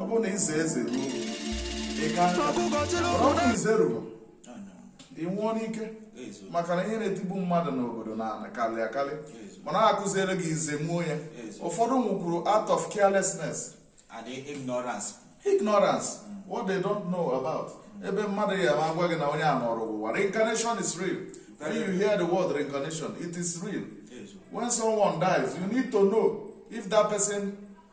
ọ bụrụ na ịza eze ruo ịga ọnụ ize ruru ị nwụọ n'ike maka na ihe na-etigbu mmadụ n'obodo na ala karị akarị mana akụziere gị ize muo ya ụfọdụ nwụkwuru out of carelessness and ignorance ignorance mm. what they don't know about mm. ebe mmadụ ya ma gwa gị na onye a nọrọ ụwa reincarnation is real when you hear the word reincarnation it is real when someone dies you need to know if that person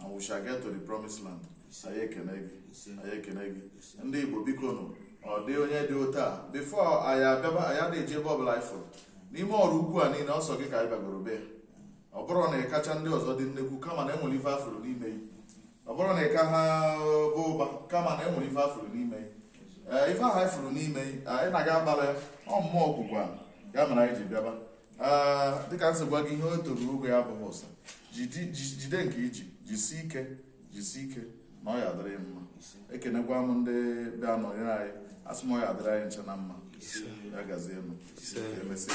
and we shall get to the promised land anyị ekene gị anyị ekene gị ndị igbo biko nụ ọ dị onye dị otu a before anyị abịaba anyị adịghị eje ebe ọbụla anyị fụrụ n'ime ọrụ ukwu a niile ọ sọ gị ka anyị bagoro be ọ bụrọ na ị kacha ndị ọzọ dị nnekwu kama na enwere ife afụrụ n'ime gị ọ bụrọ na ị ka ha baa ụba kama na enwere ife afụrụ n'ime gị ee ife ahụ anyị fụrụ n'ime gị anyị na-aga agbara ya ọ mmụọ ọgwụgwụ a ya mere anyị ji bịaba dịka m si gwa gị ihe o toru ogo ya abụghị ụsa jide nke i ji jisi ike jisi ike na ọ ya adịrị gị mma ekenekwa m ndị bịa nọnyere anyị asị m ọ ya adịrị anyị ncha na mma ya gazie nụ emesịa